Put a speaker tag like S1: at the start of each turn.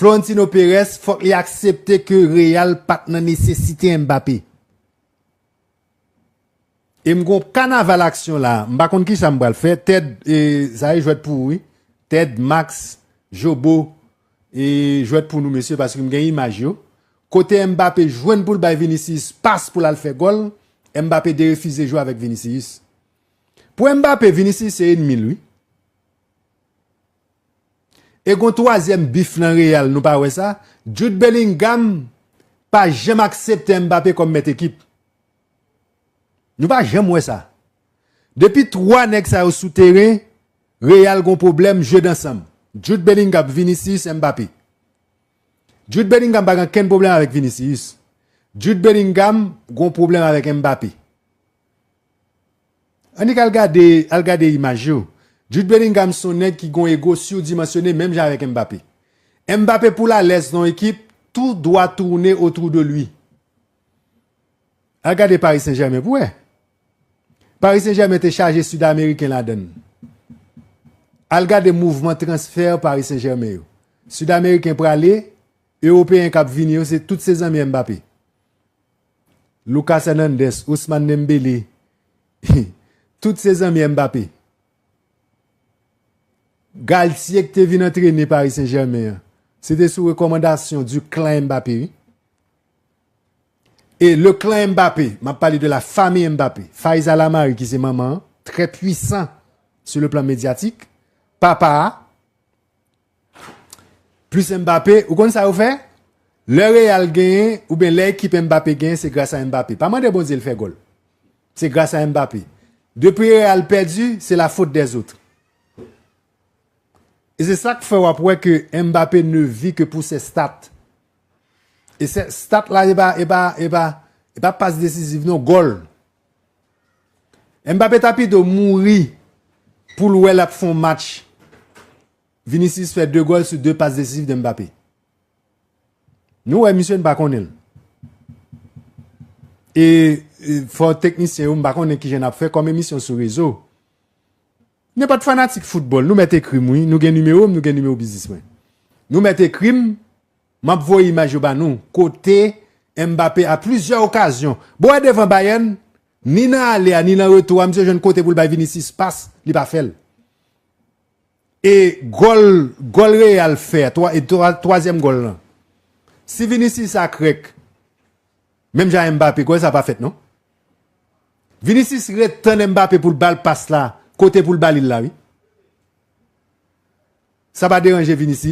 S1: Florentino Perez fòk li aksepte ke Real pat nan nesesite Mbappé. E m gon kanaval aksyon la, m pa konn kisa m pral fè, Ted e sa e jwèt pou ou wi, Ted, Max, Jobo e jwèt pou nou mesye paske m gen imaj yo. Kote Mbappé jwenn pou l bay Vinicius pas pou l al fè gòl, Mbappé derefize jwe avèk Vinicius. Pou Mbappé, Vinicius se enmi l wi. E gon twazyèm bif nan Real nou pa wè sa, Jude Bellingham pa janm aksepte Mbappé kòm mèt ekip. Nou pa janm wè sa. Depi 3 nèg sa yo sou teren, Real gon pwoblèm jeu d'ensemble. Jude Bellingham, Vinicius, Mbappé. Jude Bellingham pa gen kenn pwoblèm avèk Vinicius. Jude Bellingham gon pwoblèm avèk Mbappé. Annik al gade al gade imaj yo. Jude Bellingham son nèg ki gon ego surdimensionné menm jan avèk Mbappé. Mbappé poul alèz nan yon ekip tout dwa tourne autour de lui. Al gade Paris Saint Germain pou wè. Paris Saint Germain te chaje sud ameriken ladann. Al gade mouvman transfer Paris Saint Germain yo. Sud ameriken prale, europeyen kap vini yo se tout se zanmi Mbappé. Lucas Hernandez, Ousmane Dembélé, tout se zanmi Mbappé. Galtier ki te vin antrene Paris Saint-Germain an, se te sou rekòmandasyon du clan Mbappé wi. E le clan Mbappé, m ap pale de la famille Mbappé, Faiza Lamari ki se manman an, trè pwisan sou le plan medyatik, papa a, Plus Mbappé, ou konn sa yo fè? Lè Real genyen oubyen lè ekip Mbappé genyen se gras a Mbappé. Pa mande Bondye li fè gòl. Se gras a Mbappé. Depi Real pèdi, se la faute des autres. E se sak fè wap wè ke Mbappé ne vit que pour ses stats. E stat la e pa pas decisive non, gòl. Mbappé ta pito mouri poul wè lap fon match Vinicius fè 2 gòl sou 2 pas desizif de Mbappé nou wè misye nou pa konnenl e fò teknisyen yo mpa konnen kijan nap fè kòm emisyon sou rezo. Mwen pat fanatik foutbòl nou mèt ekrim wi nou gen nimerom nou gen nimewo biznis mwen nou mèt ekrim map voye imaj yo ba nou kote Mbappé a plizyè okazyon bon wè devan Bayern ni nan ale a ni nan retou a misye jwenn kote poul bay Vinicius pas li pa fèl e gòl gòl Real fè a 3 e 3 twazyèm gòl lan si Vinicius a krèk. Menm jan Mbappé kwè sa pa fèt non. Vinicius ret tann Mbappé poul bal pas la kote poul balil la wi. Sa pa deranje Vini si